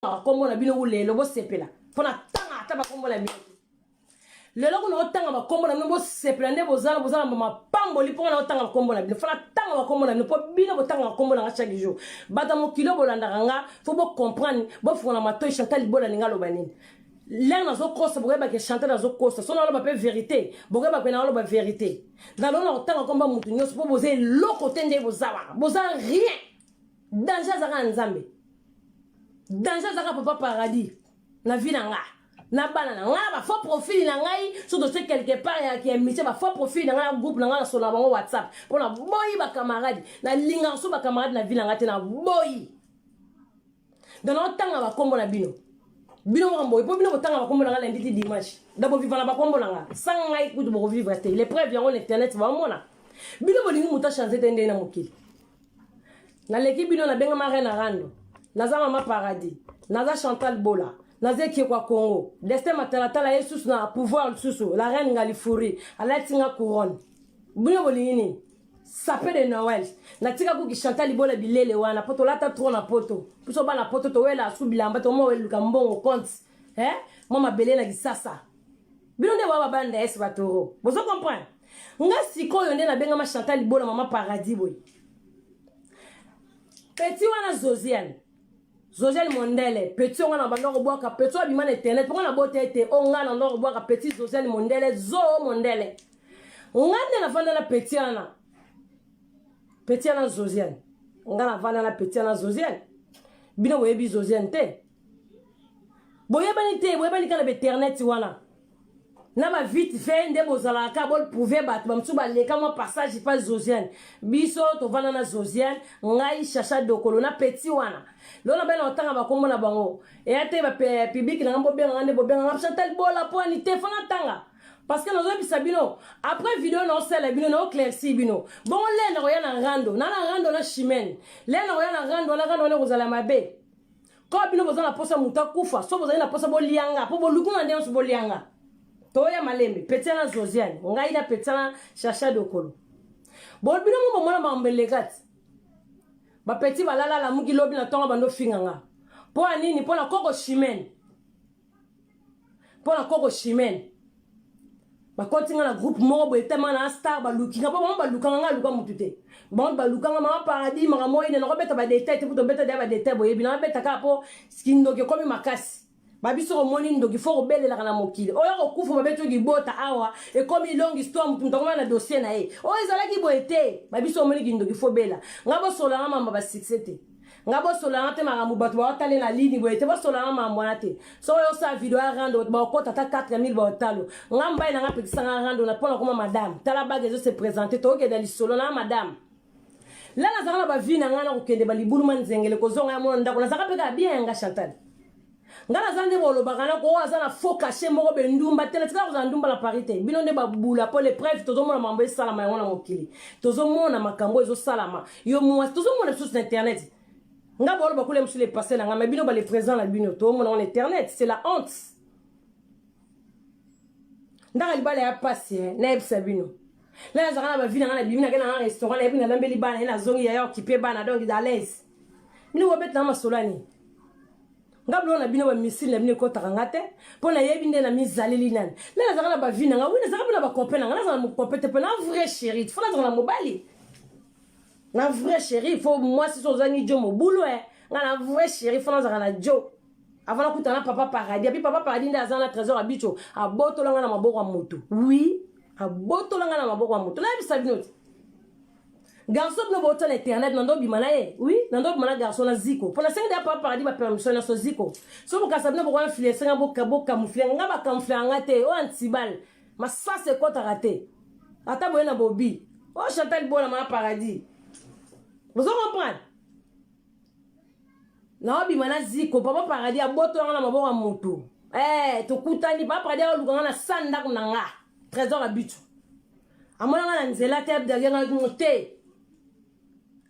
tangaka kombo na bino lelo bosepela mpo na tanga ata bakombo na bino lelo kuna otanga bakombo na bino bosepela nde bozala bozala mapamboli mpo wana otanga bakombo na bino fo natanga bakombo na bino mpo bino botanga bakombo na nga chaque jour bato ya mokili bolandaka nga fo bocomprendre bofungola matoi chantal libola ninga aloba nini lere nazokosa bokoyebake chante nazokosa so naloba mpe verité bokoyeba mpe naloba verité nalona kotanga komba motu nyonso mpo boza eloko te nde boza wana boza rien danger azaka na nzambe danger azaka papa paradis na vie na nga na bana na nga ba faux profil na ngai so dotie quelque part ya ki émission ba faux profil na nga na groupe na nga na sona bango whatsapp mpo na boyi ba camarade na lingaka so ba camarade na vie na nga te na boyi donc naotanga bakombo na bino bino moko boye mpo bino botanga bakombo na nga lundi ti dimanche donc boviva na bakombo na nga sanga ngai kutu bokovivre te l'épreuve yango na internet baomona bino bolingi moto achange te ndenge na mokili naleki bino nabengama reine rando naza mama paradis naza chantal bola naza ekiekwa congo destin matalatala ye susu na pouvoir lisusu la reine ngalifuri alati nga couronne bino bolingi nini sape de noel natika kuki chantal bola bilele wana po tolata tro na poto biso bana poto towela asu bilamba tomoweluka mbongo compte eh? mwa mabele na kisasa bino nde baba babanda esi batoro bozo comprendre nga sikoyo nde nabengama chantal libola mama paradis boye peti wana zosiane zosiane mondele peti onga na banda kobwaka peti abima na internet mpo nga nabota ete o nga na ndo kobwaka peti zosiane mondele zoo mondele nga nde nafanda na peti wana peti wana zosiane nga nafanda na peti wana zosiane bino boyebi zosiane te boyebani te boyebani kaka na bainternet wana na ba vite fait nde bozalaka ka bol prouver bato bamosusu baleka mwa passage pa zosiane biso tovanda na zosiane ngai chacha dokolo na peti wana lona bana otanga bakombo na bango eya te bapublike nanga bobenganga nde bobenganga chantal bola mpo ani te fana tanga parce que nazoyebisa bino après video naosala bino naoclairci bino bongo lena koya na rando na na rando na chimene lena koya na rando wana rando wana ekozala mabe kaka bino boza na posa moto akufa so bozali na posa bolianga mpo boluki na nde nyonso bolianga toya malembe petiana josiane ngai na petiana chacha dokolo bo bino mo bomona makambo eleka ti bapeti balala alamuki lobi na ntongo bando finga nga mpo ya nini mpo na koko chimene mpo na koko chimene bakoti nga na groupe moko boye tellement na star baluki nga mpo bango balukanga nga aluka motu te bango balukanga mama paradis maka moi ne nakobeta badetail te mpo tobeta deya badetail boyebi nakobeta kaka mpo kindoki ekomi makasi babiso komoni ndoki fo kobelelaka na mokili oyo kokufa babeti yo libota awa ekomi longue histoire motu moto akomana na dossier na ye oyo ezalaki boye te babiso komoni kindoki fo bela ngai bosolanga mamba basuccès te nga bosolanga te makambo bato baotale na lini boye te bosolanga makambo wana te soki oyosala video ya rando bato baokota ata 4000 baotalo nga mobali na nga apekisanga rando na mpona koma madame tala bage ezo se présente tokokenda lisolo na madame la nazalaka na bavi na ngai na kokende balibulu ma nzengele kozonga ya mona ndako nazalaka mpe kaka bien yanga chantal nga naza nde bolobaka nako oyo aza na faux cachet moko be ndumba te natikala kozala ndumba na paris te bino nde babula mpo le preuve tozomona mambo esalama yango na mokili tozomona makambo ezosalama yo mwasi tozomona lisusu na internet nga boloba kule mosusu le passé na nga ma bino bale présent na bino toomona ngo na internet c'est la honte ndaka libala ya pasi eh, nayebisa bino la nazalaka na bavi nanga nabimi nake nanga restaurant nayebi nalambeli bana ye nazongi yaya okipe bana donc dalaise bino bobeta na masolo ani nga biloko na bino bamisili na bino ekotaka nga te mpo nayebi nde na mizaleli nani la nazalaka na bavi nanga wi nazalaka mpe na bakope nanga nazala mokope te mpo na vrai chéri fo nazala na mobali na vrai chéri fo mwasi so ozangi jo mobulu e eh. nga na vrai chéri fo nazalaka na jo avala kuta na papa paradis abi papa paradis nde aza na trésor ya bicho abotola nga na maboko ya moto oui abotola nga na maboko ya moto nayebisa bino te garçon bino bouta na internet nando obima na ye oui nando obima na garçon na ziko mpo nasengi deya papa paradis bapermission nyonso ziko so bokasa bino bokoya influence nga bokamufle nga bakamufle yanga te oyo antibal masasi ekotaka te ata boye na bobi oyo chantal bona mana paradis bozo comprendre naobima na ziko papa paradis abotola nga na maboko ya moto eh, tokutani papa paradis aoluka nga na sa ndako na nga trésor ya bitu amona nga na nzela te abdage nga ngo te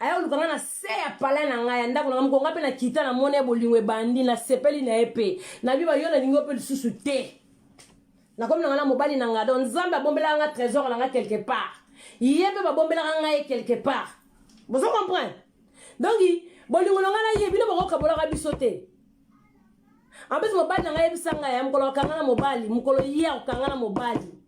ayoluka nga na se ya pala na ngai ya ndako na ngai moko nga mpe nakita na mona ye bolingo ebandi nasepeli na ye mpe nabiba yo nalingi yo mpe lisusu te nakomi na ngai na mobali na ngai don nzambe abombelaka nga trésor na ngai quelque part ye mpe babombelaka ngai ye quelque part bozo comprendre donc bolingo na ngai na ye bino bokokabolaka biso te en plus mobali na ngai yebisa ngai ya mokolo akanga na mobali mokolo ye akokanga na mobali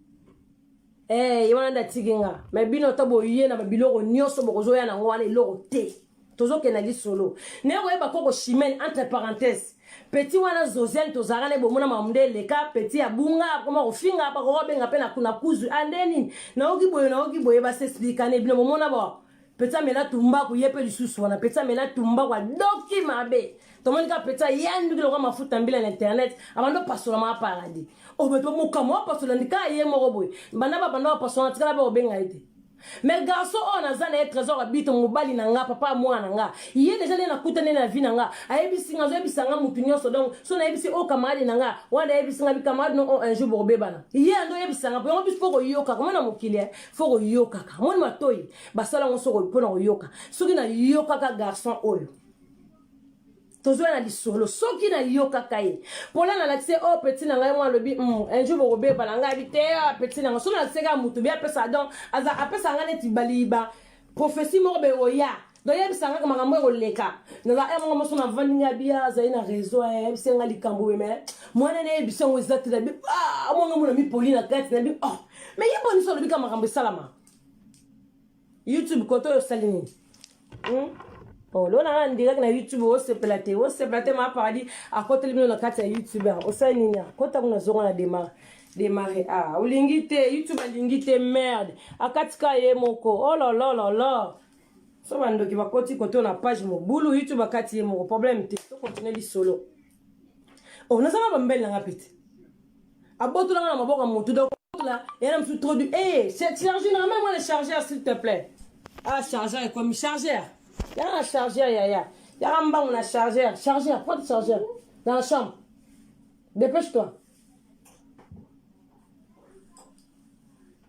ee eh, ye wana nde atiki nga me bino ata boye na babiloko nyonso bokozoya na yango wana eloko te tozokenda lisolo naye koyeba koko chimene entre parenthèse peti wana zosiane tozalaka naye bomona mamu nde eleka peti abunga akoma kofinga bakokobenga mpe na kuzu ande ah, nini nayoki boye nayoki boye basesplikane bino bomona bao Petit amela tumbaku ye mpe lisusu wana petit amela tumbaku adoki mabe tomoni kaka petit ayanduki lokola mafuta mbila na internet abandi opasola maka paradis obeto oh, mokama opasola ndika ye moko boye banda babanda bapasola na tikala mpe kobenga ye te mais garçon oyo oh, naza na ye trésor abito mobali na nga papa mwana na nga ye deja nde nakutani na vie na nga ayebisi nga azoyebisa nga motu nyonso donc so nayebisi oyo oh, kamarade na nga wana ayebisi nga bikamarade no oyo oh, un jour bokobebana ye ando oyebisa nga po yango biso mpo koyoka koma na mokili eh. fo koyokaka moni matoi basala yango soko mpo na koyoka soki nayokaka garçon oyo tozoya na lisolo soki nayokaka ye mpola nalakisi o oh, peti na ngai mwa alobi mm, un jour bokobeba na ngai abi te ah, peti na ngai soki nalakisaka motu be apesa don aza apesa ngai neti baliba profesi moko beoya nayebisa kaka makambo ya koleka naza eh, moko moso navandi ngai abia azali na réseau ayebisa eh, ngai likambo oyo me mwana nayebisa yango eza te nabi ah, mwanga mona mipoli na kati nabi oh me ye bonisi olobi ka makambo esalama youtube kote oyo osali nini hmm? oh, lona na ndiraki na youtube osepela te osepela te maa paradis akoteli bino na kati ya youtube ah, osali nini akota ah, kuna zongo na demar demare ah olingi te youtube alingi te merde akatika ye moko ololololo oh, so bandoki bakoti koto na page mobulu youtube akati ye moko problème te to continue lisolo o oh, nazanga bambele nanga pete abotolanga na maboko ya motu dokola yana mosusu trop du e charge na meme wana chargeur s'il te plaît ah chargeur ekomi chargeur yanga chargeur yaya yanga mbangu na chargeur chargeur pas de chargeur dans la chambre dépêche toi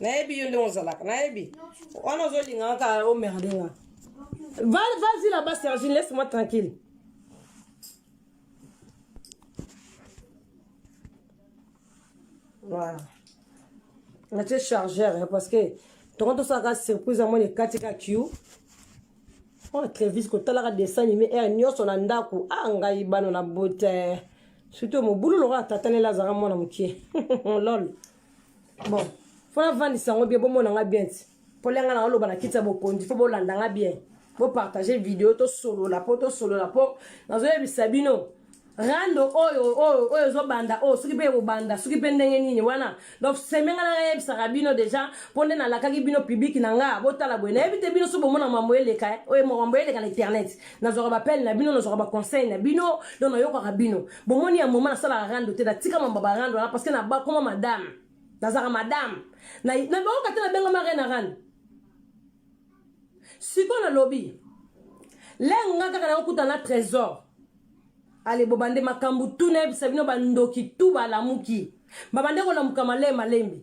nayebi yo ndenge ozalaka nayebi wana ozolinga kaka omerde nga vas-y là-bas sergine laisse moi tranquille voilà natie chargeur parce que tongo tosalaka surprise yango ekati ka q oyo trevis kotalaka dessin anime ere eh, nyonso na ndako a ah, ngai bana na bote surtout mobulu lokola tatanela azalaka mwana mokie lol bon fo navandisa yango bien bomona nga bien ti mpo lenga na oloba na kiti ya bokonzi fo bolanda nga bien bopartage video tosolola mpo tosolola mpo nazoyebisa bino rando oyo oyo oyo ezobanda oyo soki mpe ekobanda soki mpe ndenge nini wana donc semenga na nayebisaka bino deja mpo nde nalakaki bino publiki na nga botala boye nayebi te bino soki bomona mambo eleka eh, oyo mambo eleka na internet nazwaka bapele na bino nazwaka baconseil na bino donc nayokaka bino bomoni ya moma nasalaka rando te natika mambo ba rando wana parceke nabakoma madame nazalaka madame nabaoka te nabengama rena rando sikoyo nalobi lenge nga kaka nakokuta na trésor ale bobande makambo tuna yebisa bino bandoki tu balamuki babande kolamuka maleye malembe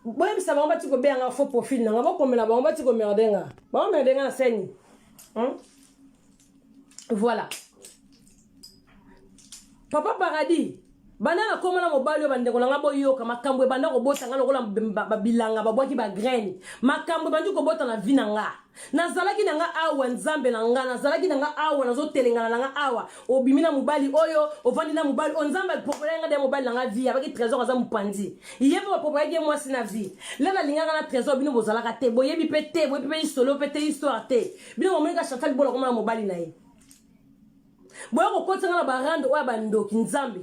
boyebisa bango bati kobeya nga fo profil nanga bokomela bango bati komerde nga baomerde nga na seni hmm? voilà papa paradis banda na koma na mobali oyo bandeko na ngai boyoka makambo ebanda kobota ngai lokola babilanga babwaki bagraine makambo ebandi kobota na vi na ngai nazalaki na nga awa nzambe na nga nazalaki na nga awa nazotelengana na nga awa obimi na mobali oyo ovandi na mobali oyo nzambe apropolaki nga de mobali na nga vie abaki trésor aza mopanzi ye mpe bapropolaki ye mwasi na vie le nalingaka na trésor bino bozalaka te boyebi mpe te boyebi mpe lisolo mpe te histoire te bino bomonika chantal bola komona mobali na ye boya kokotisa nga na barande oyo ya bandoki nzambe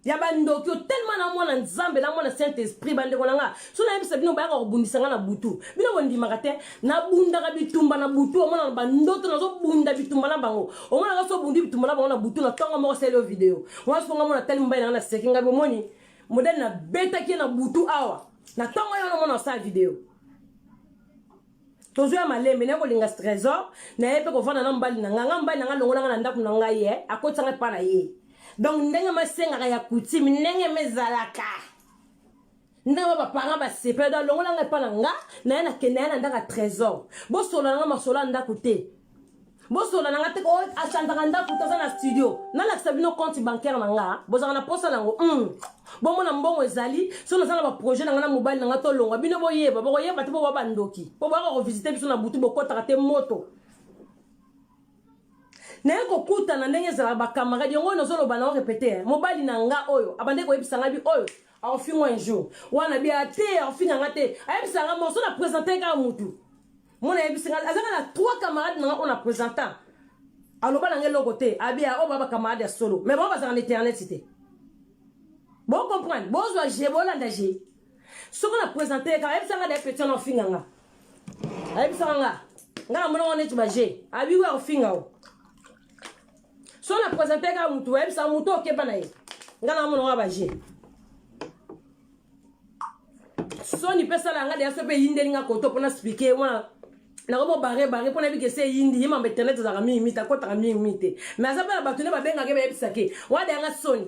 ya bandoki otelema na mwana nzambe na mwana saint esprit bandeko na nga so nayebisa bino bayaka kobundisa nga na butu bino bondimaka te nabundaka bitumba na butu omona na bandoto nazobunda bitumba na bango omonaka so obundi bitumba na bango na butu na ntongo moko seli yo video wana soko nga mona tali mobali na nga naseki ngai bomoni modele nabetaki ye na butu awa na ntongo ye wana omona osala video tozo ya malembe naye kolinga trésor naye mpe kovanda na mobali na ngai ngai mobali na ngai alongolanga na ndako na ngai ye akotisa ngai mpa na ye donc ndenge masengaka ya coutume ndenge mezalaka ndenge ba baparent basepela do alongola ngai mpa na nga naye nakenda ye na ndako ya trésor bosolola ngai masolo ya ndako te bosola na nga te ko achanzaka ndako toza na studio nalakisa bino compte bancaire na nga bozalaka na posa nango mm. bomona mbongo ezali so naza na baprojet na nga na mobali na nga tolongwa bino boyeba bokoyeba te boba bandoki mpo boyaka kovisite biso na butu bokotaka te moto naye kokutana ndenge ezalaka bakamarade yango oyo nazoloba nango repete mobali na nga oyo abandaki koyebisa ngai bi oyo akofinga un jour wana bi ate akofinga nga te ayebisa nga morso na presente kaka motu Mon ayebisi nga azaka na trois camarades na nga on a présentant. Aloba na nga eloko te, abia o oh, baba camarade ya solo. Mais bon bazaka na internet te. Bon comprendre, bozwa je bolanda je. Soko na présenter ka ayebisa nga da petit na finga nga. Ayebisa nga. Nga na mona wana tu ba je. Abi wa finga o. So na présenter ka mutu, ayebisa mutu okeba na ye. Nga na mona wa ba je. soni mpe sala yanga deya so mpe eyindeli nga koto mpona explike wana nakomo bare bare mpona yebi kese eyindi ye mambo internet ezalaka mingi mite akotaka mingi mingi te mais aza mpe na bato nde babengaka ye bayebisa ke wana deya nga soni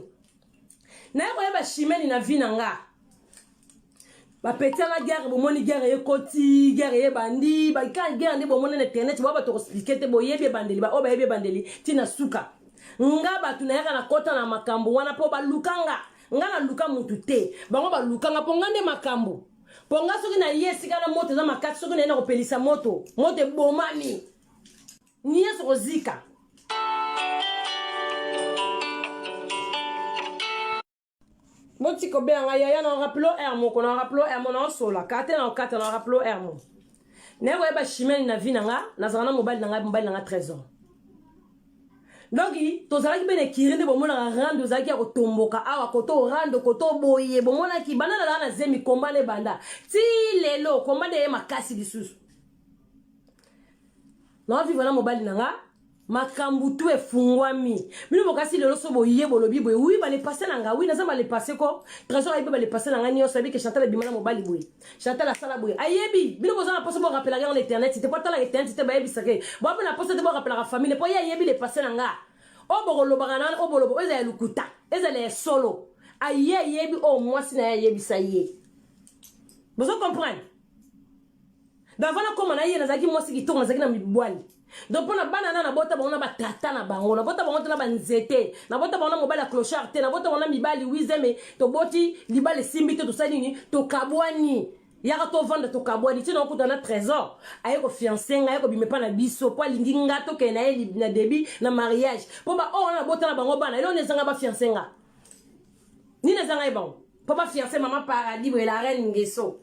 naye koyeba shimeni na vi na nga bapeti yanga guerre bomoni guerre ekoti guerre ebandi ka guerre nde bomoni na internet boya bato koexplike te boyebi ebandeli baoyo bayebi ebandeli ntina suka nga bato nayaka na kota na makambo wana mpo baluka nga nga na luka mutu te bango baluka nga mpo nga nde makambo mpo nga soki naye esika na moto eza makasi soki naye na kopelisa moto moto ebomami nyonso kozika botika obela nga yaya na raplo r moko na raplo r mo na osola kate na okata na raplo r mo naye koyeba chimene na vi na nga nazala na mobali na nga mobali na nga 13 ans donc tozalaki mpe na ekiri nde bomonaka rando ozalaki ya kotomboka awa koto orando koto oboye bomonaki banda nalaka na zemi komba nde banda ti lelo komba nde eye makasi lisusu naovivre na mobali na nga makambo tu efungwami bino bokasi lelo so boye bolobi boye wi balepase na nga wi naza balepase ko trésor ayebi balepase na nga nyonso ayebi ke chantal ebima na mobali boye Chantal asala boye ayebi bino boza na posa bo rappelaka yango na internet te po atalaka internet te bayebisaka ye boa mpe na posa te bo rappelaka famille mpo ye ayebi le passé na nga oyo bokolobaka na wana oyo boloba oyo ezala ya lokuta ezala ya solo aye ayebi oyo mwasi na ye ayebisa ye bozo comprendre davana koma na ye nazalaki mwasi kitoko nazalaki na mibwali donc mpo na bana na nabota bango na batata na bango nabota bango te na banzete nabota bango na mobali ya clochard te nabota bango na mibali wizeme toboti libala esimbi te tosali nini tokabwani yaka tovanda tokabwani ti naokuta na trésor aye kofianse ngai aye kobima epa na biso mpo alingi nga tokende na ye na debut na mariage mpo baoyo wana nabota na bango bana eloo na ezanga bafianse nga nini ezanga ye bango po ba fiancé maman paradis boye la reine ngeso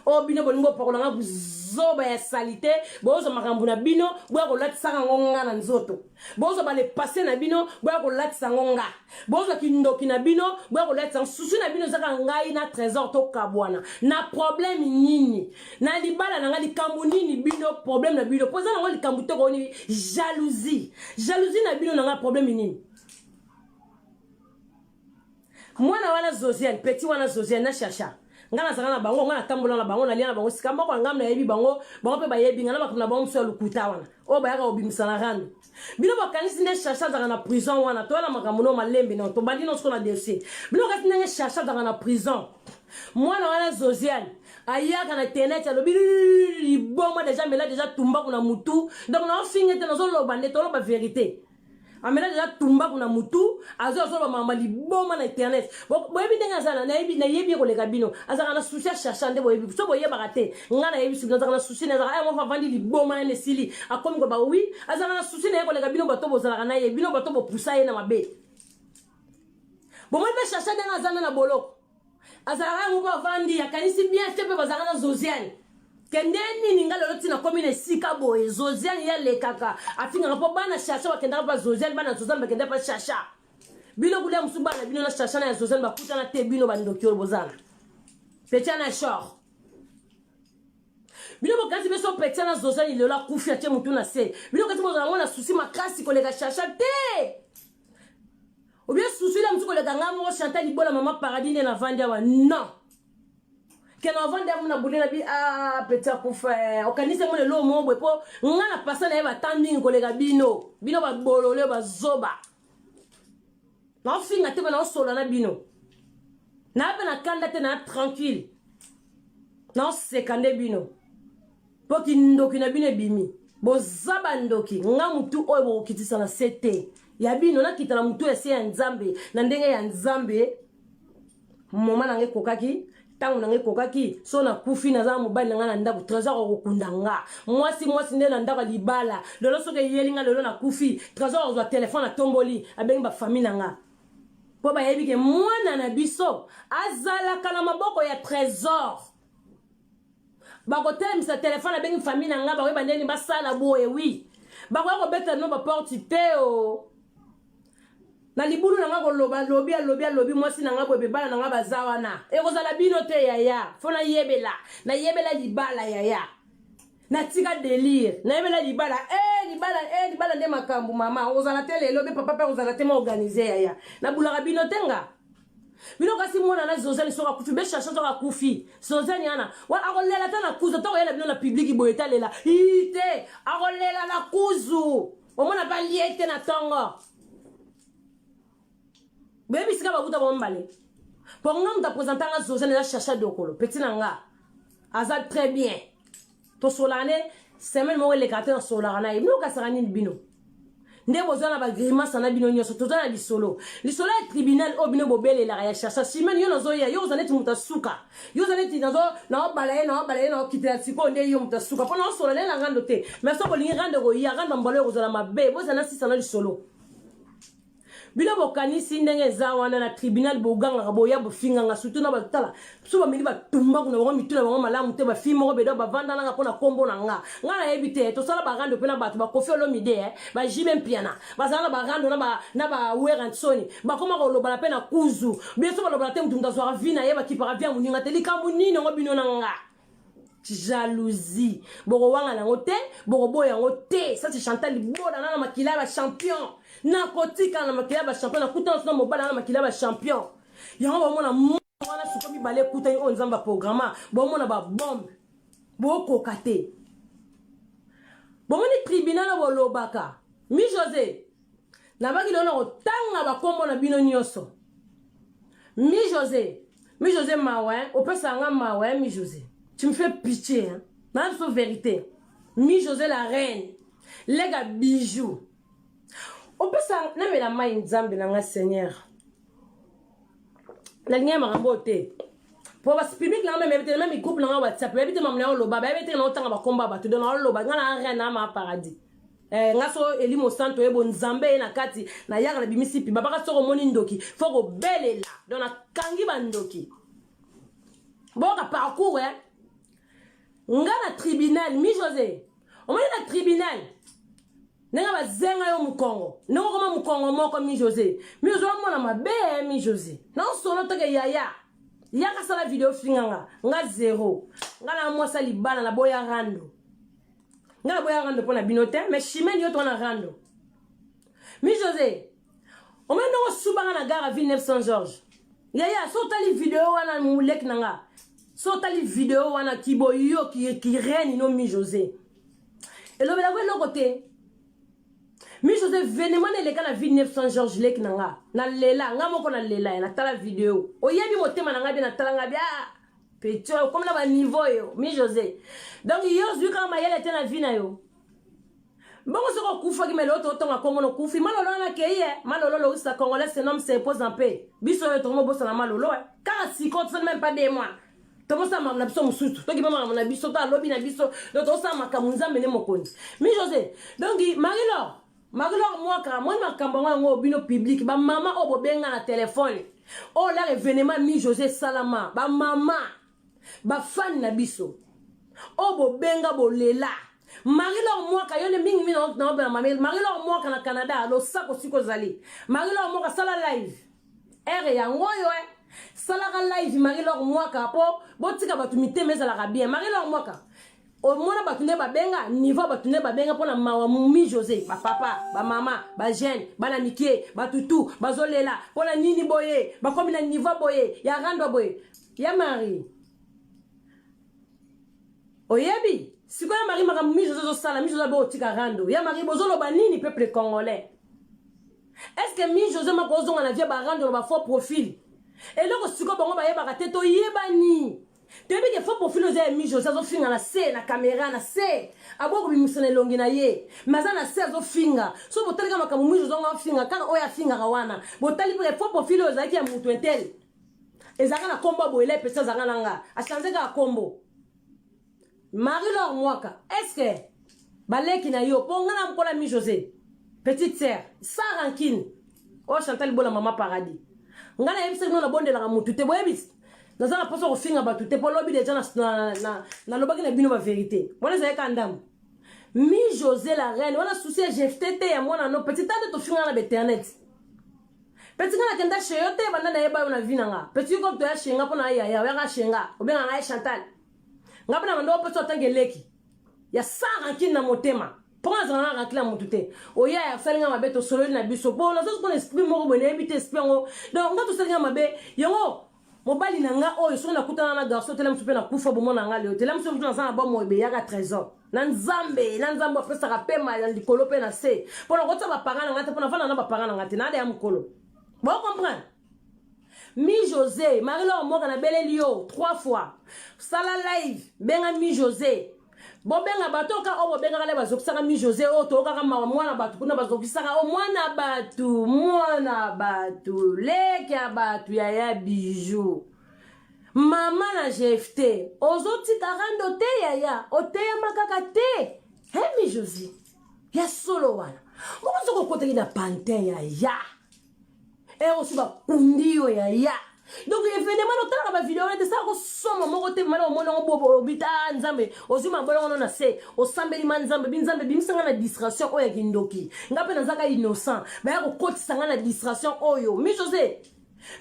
oyo oh, bino bolingi bopakola nga buzoba ya salite bozwa makambo na bino boya kolatisaka yango nga na nzoto bozwa balepase na bino boya kolatisa yango nga bozwa kindoki na bino boya kolatisa yango susu na bino ezaka ngai na trésor tokabwana na problème nini na libala na ngai likambo nini bino problème na bino mpo eza nango likambo tokooni jalousie jalousie na bino na ngai problème nini Mwana wana Zosiane, petit wana Zosiane na Chacha. Nga nazala na bango, nga natambola na bango, nalia na bango, sika mboko na ngambe nayebi bango, bango pe bayebi nga na makambo na bango mosusu ya lokuta wana. Oyo bayaka kobimisa na rando. Bino bakanisi nde Chacha azaka na prison wana, toya na makambo no malembe no, tobandi no siko na dossier. Bino bakanisi ndenge Chacha azaka na prison. Mwana wana Zosiane, ayaka na internet alobi liboma deja mela deja tumbaku na mutu donc naofinga ete nazoloba nde toloba verite amela deja tumbaku na mutu azo azoloba mama liboma na internet boyebi ndenge azala nayebi nayebi ye koleka bino azalaka na susi achercha nde boyebi so boyebaka te ngai nayebi suki azalaka na susi nazalaka aya moko avandi liboma nani esili akomi koloba wi azalaka na susi na ye koleka bino bato bozalaka na ye bino bato bopusa ye na mabe bomoni mpe chercha ndenge azana na boloko azalaka yango mpo avandi akanisi bien te mpe bazalaka na zosiane kende nini nga lelo ntina komi na esika boye zosiane ye alekaka afingaka mpo bana shasha bakendaka mpa zosiane bana zosiane bakenda mpa shasha bino kulia mosusu bana bino na shasha na ya zosiane bakutana te bino bandoki oyo bozana petia na shor bino bokati biso petia na zosiane lelo akufi atie motu na se bino kati bozala yango na susi makasi koleka shasha te obie susu ile mosuku oleka ngai moko chantal libola mama paradis nde navandi awa non kena avandi amu na bule na bi a peti akufa eh, okanisi yango lelo omo bwe mpo ngai na pasa na ye batan mingi koleka bino bino babolole bazoba naofinga te mpe naosola na bino naa mpe na kanda te naa tranquille naoseka nde bino Po kindoki na bino ebimi. Boza ba ndoki, nga mutu oyo bokokitisa na se te. Ya bino nakita na mutu ya se ya Nzambe, na ndenge ya Nzambe. Moma na nga ekokaki, ntango na ngai ekokaki so nakufi naza na mobali na ngai na ndako trésor akokunda nga mwasi mwasi nde na ndako ya libala lelo soki eyeli nga lelo nakufi trésor akozwa telefone atomboli abengi bafamille na nga mpo bayebi ke mwana na biso azalaka na maboko ya trésor bakotelemisa telefone abengi famille na ngai bakoyeba ndeni basala boye wi bakoya kobetela bino baporte te o oh. na libulu na ngai koloba lobi alobi alobi mwasi na ngai boye bibala na ngai baza wana ekozala bino te yaya fo nayebela nayebela libala yaya natika delire nayebela libala eh, libala eh, libala nde makambo mama ozala te lelo be papa mpe ozala te ma organise yaya nabulaka bino te nga bino kasi mwana na zozani soki akufi beshasha soki akufi zozani ana wana akolela ata na kuzu ata koyela bino na publiki boye talela ii te akolela na kuzu omona balie te na ntongo boyebi sika bakuta bango mibale po nga moto apresenta nga zozane eza chacha dokolo peti na nga aza très bien tosolaka nde semaine moko eleka te nasolaka na ye bino okasaka nini bino nde bozwa na bagrimasa na bino nyonso toza na lisolo lisolo ya tribunal oyo bino bobelelaka ya chacha simene yo nazoya yo oza neti moto asuka yo oza neti naobala ye naobala ye naokitela sikoyo nde yo moto asuka mpo naosola nde na rando te mais soki olingi rando ekoya rando mbala oyo kozala mabe bozala na sisa na lisolo bino bokanisi ndenge eza wana na tribunal bogangaka boya bofinganga surtout na batala so bameli batumba kuna bango mitu na bango malamu te bafi moko bedo bavandanaka mpo na nkombo na nga nga nayebi te tosala barando mpe na bato bakofi olomide eh, bajime mpiana bazala na barando na bawerensoni bakoma kolobana mpe na kuzu biso balobana te motu moto azwaka vi na ye bakipaka vi ya moninga te likambo nini yango bino na nga jalousie bokowanga nango te bokoboya yango te sasi chantal liboda na na makila ya bachampion nakotikala na makila ya bachampion nakuta naso na mobala na makila ya bachampion yango bomona wana suko mibale ekutani oyo nzambe aprograma bomona babombe bokoka te bomoni tribunal oyo bolobaka mi josé nabaki lelo na kotanga bakombo na bino nyonso mi josé mi josé mawa hein? opesaka nga mawa hein, mi josé tu me fais pitié hein? na biso vérité mi josé la reine lega bijou opesa namela mai nzambe na nga seigneur nalingi ya makambo oyo te po basi publike nanga memeyebi te meme groupe nanga whatsapp bayebi te mamu na yo oloba bayebi te na otanga bakomba bato don naoloba nga na rien na ma paradis Eh, nga so elimo santo ye bonzambe ye na kati nayaka na bimisi piba baka soko omoni ndoki fo kobelela don nakangi bandoki boyoka parcours e eh? nga na tribunal mi josé omoni na tribunal ndenge bazenga yo mokongo ndenge okoma mokongo moko mi josé mi josé omona mabe eh, mi josé na osolo toke yaya yaka sala video finganga nga zero nga na mwasa libala na boya rando nga naboya rando mpo na bino te mais chimene yo tona rando mi josé omoni ndenge osubanga na gara ville 900 george yaya so otali video wana moleki na nga so otali video wana kiboyo kireni no mi josé elobelako eloko te mi josé venema na eleka na ville 900 george leki na nga na lela nga moko na lela ya natala video oyebi motema na ngai bie natala ngai bie ah! petit oyo okomi na ba niveau yo mi josé donc yo ozwi kaka mayele te na vie na yo bongo soki okufaki mele oyo totonga kongo nokufi malolo wana akei e malolo loisa congolais senome se pose en paix biso oyo tokomi obosana malolo e kaka siko tosali meme pas de mois tokosala makambo na biso mosusu tokima makambo na biso to alobi na biso to tosala makambo nzambe nde mokonzi mi josé donc marie lor Marie Laure Mwaka amoni makambo yango yango bino public ba mama oyo bobenga na telefone oyo lar evenema mi Jose esalama ba mama bafani na biso oyo bobenga bolela marie lor mwaka yo nde mingi mingi naopela mame marie lor mwaka na canada losako siko ozali marie lor mwaka sala live ere yango oyo e salaka live marie lor mwaka mpo botika bato mitema ezalaka bien marie lor mwaka omona bato nde babenga niveau bato nde babenga mpo na mawa mi josé bapapa bamama bajeune bana mike batutu bazolela mpo na nini boye bakomi na niveau boye ya randwa boye ya marie oyebi sikoyo ya marie makambo mi josé ozosala mi josé abe otika rando ya marie bozoloba nini peuple congolais est ce que mi josé mako ozonga na vie barando na bafaux profil eloko sikoyo bango bayebaka te toyebani toyebi ke fo profil oza ya mijo azofinga na se na kamera na se aboya kobimisa na elongi na ye me aza na se azofinga so botalika makambo mijo zongo afinga kaka oyo afingaka wana botali mpe fo profil oyo ezalaki ya moto etele ezalaka na nkombo ya boyela epesa azalaka na nga achange kaka nkombo Marie Laure Mwaka, est-ce que baleki na yo po nga na mpola mi José, petite sœur, sans rancune. Oh Chantal Bola mama paradis. Nga na yebisa kino na bondelaka mutu te boyebisi. Naza na posa kofinga batu te po lobi deja na na na, na lobaki na bino ba verité. Wana ezali ka ndambo. Mi José la reine, wana souci ya jefte te ya mwana no petit tante tofinga na b'internet. Petit nga nakenda chez yo te banda na yeba yo na vie na nga. Petit yo ko toya chez nga po na yaya, oyaka chez nga. Obenga nga Chantal. nga bana bando opesa otange leki ya sans rancune na motema mpo nga azala na rancune ya motu te oya ya asali nga mabe tosololi na biso mpo nazoki mpona esprit moko boye nayebi te esprit yango donc nga tosali nga mabe yango mobali na nga oyo soki nakutana na garçon te lamusu mpe nakufa bomona nga leo te lamusu motu naza na bomoi beyaka trésor na nzambe na nzambe apesaka mpe mai na likolo mpe na se mpo nakotisa bapanga na nga te mpo nafanda na bapanga na nga te nada ya mokolo bokomprendre mi jose marie lor mboka nabeleli yo 3 fois sala live benga mi jose bobenga bato oka oyo bobengaka le bazokisaka mi jose oyo toyokaka mawa mwana bato kuna bazokisaka o mwana bato mwana bato leki ya bato yaya bijou mama na jefte ozotika rando te yaya oteyama kaka te he mi jose ya solo wana mokozokokotelina pantin yaya eh osi bakundi yo yaya donc evenement otalaka bavideo wana te sala kosoma moko te mana omoni yango bobo obita ah, nzambe ozwi mabola wana na se osambeli ma nzambe bi nzambe bimisa ngai na distraction oyo ya kindoki ngai mpe nazaka innocent baya kokotisa ngai na distraction oyo mi jose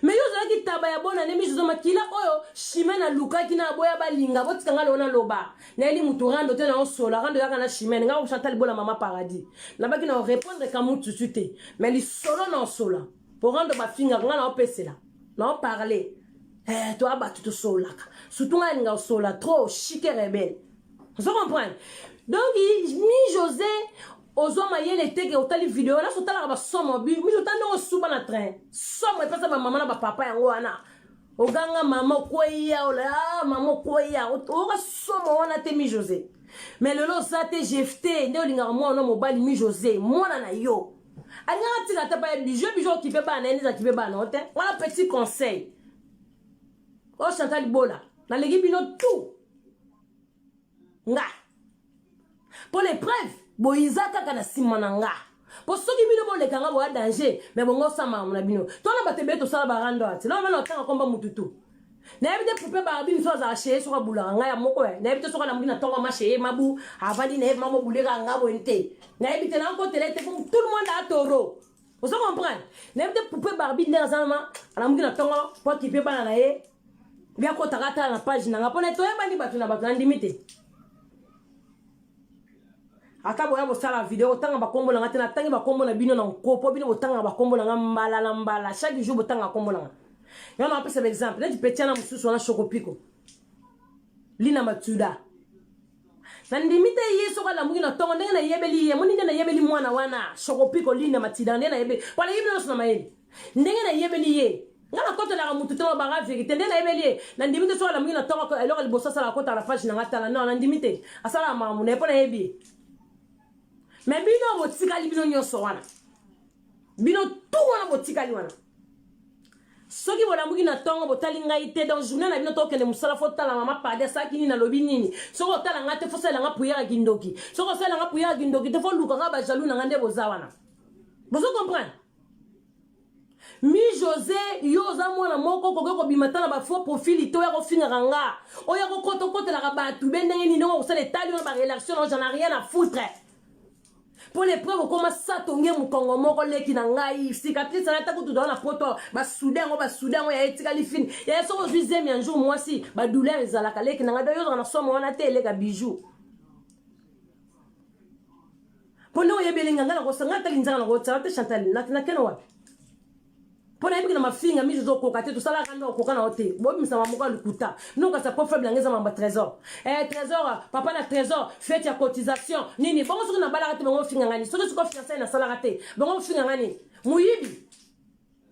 me yo ozalaki taba ya bona nde mi jose makila oyo shime nalukaki na boya balinga botika ngai leo naloba nayeli mutu rando te na osola rando yaka na chimene nga chantal bola mama paradis nabaki na orepondre ka mutusu te mais lisolo na osola po rando bafingaka nga na opesela na oparle eh, toya bato tosololaka surtout ngai alinga osola trop chike rebele ozo comprendre donc mi josé ozwa mayele teke otali video naso otalaka basomo bi miso otali ndenge osuba na train somo epesa bamama na bapapa yango wana oganga mama okweya ola ah, mama okweya oyoka somo wana te mi josé mais lelo oza te jefte nde olingaka mwana mobali mi josé mwana na yo alingaka tika ata baye bijo bijo okipe bana ye nde azakipe bana o te wana petit conseil o chantal bola naleki bino tout nga mpo na epreuve boyiza kaka na nsima na nga mpo soki bino boleka nga boya danger me bongo osamba yango na bino tona bato ebele tosala barando ati lona bana otanga komba motu tu nayebi te poupe barabi mosusu azala sheye soki abulaka ngai ya moko ya nayebi te soki alamuki na ntongo ma sheye mabu avandi nayebi mama obuleka nga boye te nayebi te nakotele te tout le monde atoro ozo comprendre nayebi te poupe barbi nde aza nama alamuki na ntongo po akipe bana na ye biakotaka atala na page na nga mpo na toyebani bato na bato nandimi te ata boya bosala video otanga bakombo na nga te natangi bakombo na bino na nko mpo bino botangaka bakombo na nga mbala na mbala chaque jour botangaka kombo na nga yo na apesa baexemple neti petiana mosusu wana shokopiko lina matuda Na ndimi te ye soki alamuki na tongo ndenge na yebeli ye moni nde na yebeli mwana wana sokopi kolinda matida nde na yebeli pala yebi nyoso na mayele ndenge na yebeli ye nga na kotelaka mutu te na banga verite nde na yebeli ye na ndimi te soki alamuki na tongo eloko liboso asala kota na page na nga tala non na ndimi te asala makambo na ye po na yebi ye mais bino botikali bino nyoso wana bino tout wana botikali wana soki bolamuki na ntongo botali ngai te donc journée na bino tokende mosala fo tala mama padi asalaki nini nalobi nini soki otala ngai te fo salela ngai puyaka kindoki soki osalela ngai puyaka kindoki te fo lukaka bajalou na ngai nde boza wana bozo comprendre mi josé yo oza mwana moko okoki kobima ata na bafaux profil te oya kofingaka nga oya kokota okotelaka bato be ndenge nini ndenge okosala etali wana barelation na oja na rien na foutre mpo lepre kokoma sato nge mokongo moko leki na ngai sikatrise na atako tudaa na poto basude yango basude yango ya etikali fini ya soki ozwi zemi ya jour mwasi badouleur ezalaka leki na ngai do yozaka na somo wana te eleka bijou mpo nde oyebi elenga ngai nakosanga ata linzaka nakotsala te chantal nakena wapi mpo nayebi na mafinga miso ezokoka te tosalaka nde okoka na yo te bobimisama moko ya lokuta bino kasi po faible yango eza mamba trésor eh, trésor papa na trésor fete ya cotisation nini bongo soki nabalaka te bango ofinga ngani soki soki ofiansai nasalaka te bango ofinga ngani moyibi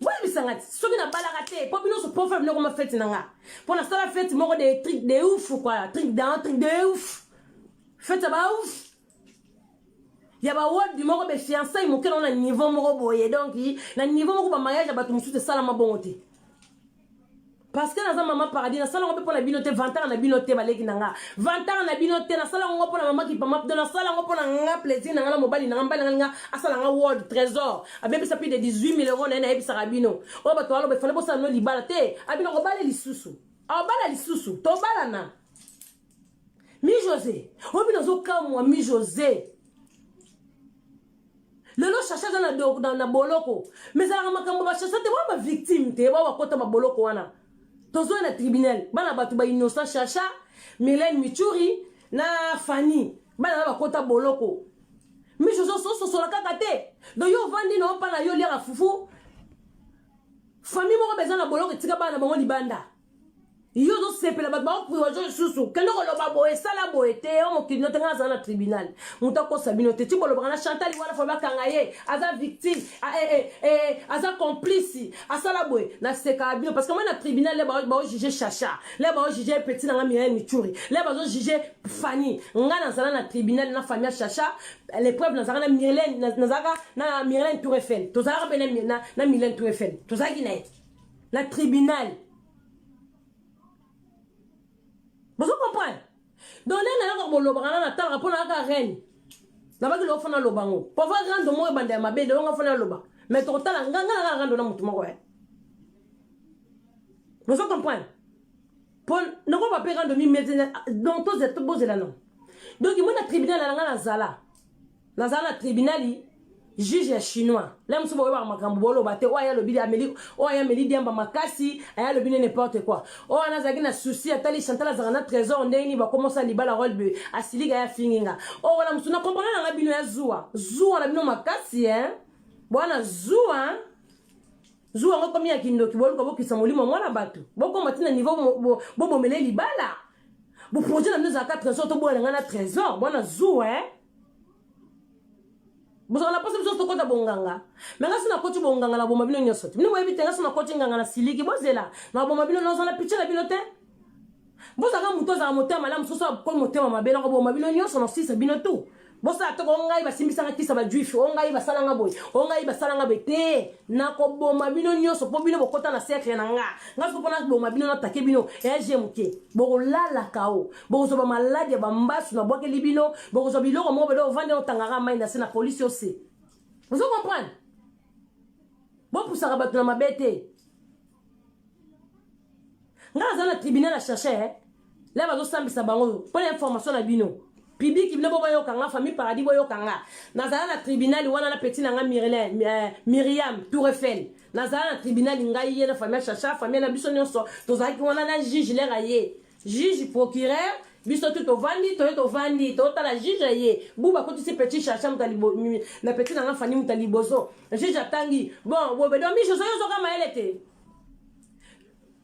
boyebisanga ti soki nabalaka te mpo bino so po faible nokoma fete na nga mpo nasala fete moko de tric de ouf kua tric dan tric de ouf fete ya ba ouf ya ba wodi moko be fiançai moke na niveau moko boye donc na niveau moko ba mariage ya bato mosusu esalama bongo te parce que naza mama paradis nasala yango mpe mpo na bino te vantaka na bino te baleki na nga vantaka na bino te nasala yango mpo na mama kipama pdo nasala yango mpo na nga plaisir na nga na mobali na nga mobali na nga linga asala nga world trésor abebisa plus de 18 000 euros na ye nayebisaka bino oyo bato baloba efale bosala no libala te abino kobala lisusu abala lisusu tobalana Mi Jose, obi nazo kamwa mi Jose. lelo shasha aza na, na, na boloko me ezalaka makambo bashasha te wana bavictime te ba bakota baboloko wana tozoya na tribunal bana bato bainnocent shasha milene michuri na fani bana na bakota boloko miso osososola kaka te do yo ovandi na opa na yo oliaka fufu fami moko beza na boloko etika bana na bango libanda yo ozosepela bato baopriwajo lisusu kende koloba boye esala boye te yo mokili no te ngai azala na tribunal moto akosa bino te ti bolobaka na chantal wana fo bakanga ye aza victime eh, eh, eh, aza complice asala boye nasekaka bino parce que moi na tribunal le baojuge chacha le baojuge petit na ngai mirael michuri le bazojuge fanny ngai nazala na tribunal na famille ya chacha l'épreuve nazalaka na mirlene nazalaka na mirlene tour eiffel tozalaka mpe na mirlene tour eiffel tozalaki na ye na tribunal bozo comprendre donc nde nayaka bolobaka na natalaka mpo nayaka reine nabaki loko fona aloba yango pova rando moko ebanda ya mabe lelonga fona aloba mais tokotala nga nga naka rando na motu moko ya bozo comprendre mpo nakoba mpe rando mimete donc tozela bozela no donc moi na tribunal na nga nazala naza na tribunali juge ya chinois le mosusu boyebaka makambo boloba te oyo aya alobi ameli oyo aya ameli diamba makasi aya alobi ne n'importe quoi oyo wana azalaki na souci atali chantal azalaka na trésor ndenge nini bakomosa libala role boye asilika ya fingi nga oyo wana mosusu na comprendre nanga bino ya zuwa zuwa na bino makasi e bwana zuwa zuwa yango ekomi ya kindoki boluka bokisa molimo mwana bato bokoma ntina niveau bobomele libala boprojet na bino ezalaka trésor toboya na ngai na trésor bwana zuwa e bozala na posa biso tokota bonganga me ngasi nakoti bonganga na boma bino nyonso te bino boyebi te ngasi nakoti nganga na siliki bozela na boma bino nyonso na pitie na bino te bozalaka moto azala motema malamu soso akomi motema mabe na koboma bino nyonso nasilisa bino tu bosala toko o ngai basimbisanga kisa bajuife o ngai basalanga boye o ngai basalanga boye te nakoboma bino nyonso mpo bino bokota na cercle na nga nga soki mpo naboma bino natake bino eye moke bokolalaka o bokozwa ba maladi ya bambasu na bwakeli bino bokozwa biloko moko bede ovandi otangaka mai na se na polisi ose ozo comprendre bopusaka bato na mabe te ngai naza na tribunal ya cherche eh? la bazosambisa bango oyo mpo na information na bino publiki bino bo boyoka nga famille paradis boyoka nga nazala na tribunal wana na peti na nga eh, miriam tourefel nazala na tribunal ngai ye na famille ya chacha famille na biso nyonso tozalaki wana na juge lere ye juge procureur biso tu tovandi toye tovandi totala juge ye buba akotisi petit chacha moto na petit nanga fani moto ya liboso juge atangi bon bobedo mi josé ozoka mayele te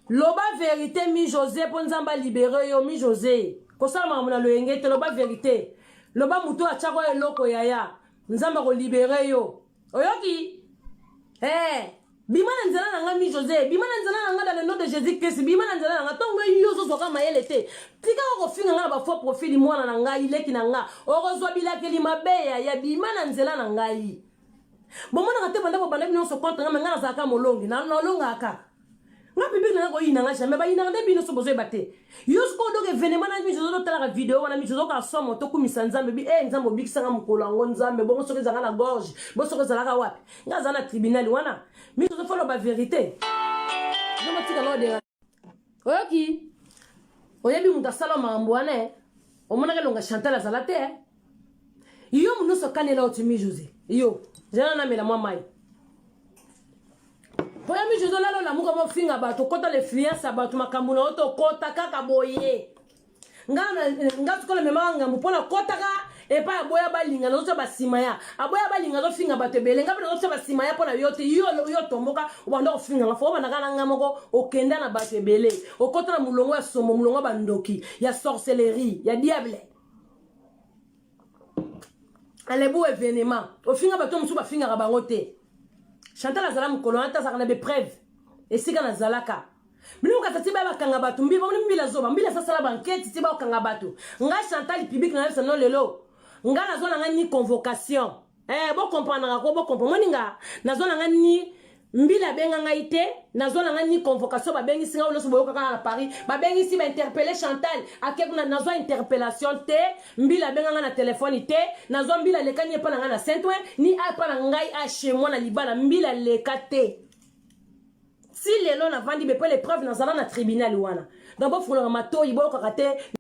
loba verité mi josé mpo nzambe alibere yo mi josé kosala makambo na loyenge te loba verité loba moto atyako eloko yaya nzambe akolibere yo oyoki hey, eh, Bima na nzela na nga mi Jose, bima na nzela na nga dans le nom de Jésus Christ, bima na nzela na nga. Tongo yo zo zoka mayele te. Tika ko finga nga na ba faux profil mwana na ngai, leki na nga. Okozwa bilakeli mabe ya ya bima na nzela na ngai. Bomonaka te banda bobanda bino so contre nga, mais nga nazalaka molongi, na nolongaka. Nga public na nga koyina nga jamais, bayinaka nde bino so bozoyeba te. yo sikoyo donc evenema na miso ozo talaka video wana miso ozoka somo tokumisa nzambe bi e nzambe obikisanga mokolo yango nzambe bongo soki ezalaka na gorge bo soki ezalaka wapi nga aza na tribunal wana miso ozo foloba verité nomotika nodenga oyoki oyebi moto asala makambo wana omonaka elonga chantal azala te yo munoso kanela otimi jose yo zela namela mwa mai mpo ya mi jose olala olamuka mofinga bato okota lefluence ya bato makambo na yo tokota kaka boye nga sikola memaka ngambo mpo nakotaka epai aboya balinga nazotya basima ya aboya balinga azofinga bato ebele nga mpe nazotya basima ya mpo na yo te yo otomboka obanda kofinga nga fo obandaka na nga moko okenda na bato ebele okota na molongo ya somo molongo ya bandoki ya sorcellerie ya diable alebu evenema ofinga bato mosusu bafingaka bango te chantal azala mokolo wana te azalaka na bepreuve esika nazalaka bino mokata ti baya bakanga bato mbi bamoni mbila zoba mbila asasala bankete ti bakanga bato ngai chantal publike nayebisa no lelo ngai nazwa na ngai ni convocation eh bo comprendre ko bo comprendre moni nga nazo na nga ni mbila abenga ngai te nazwa na ngai ni convocation babengisi ngai nyonso boyoka kaka na paris babengisi bainterpele chantal ake kuna nazwa interpellation te mbila abenga ngai na telefone te nazwa mbila aleka ni epa na ngai na saintwe ni apa na ngai ashe mwana libala mbila aleka te si lelo navandi bepe lepreuve nazala na tribunal wana donc bofolaka matoyi boyokaka te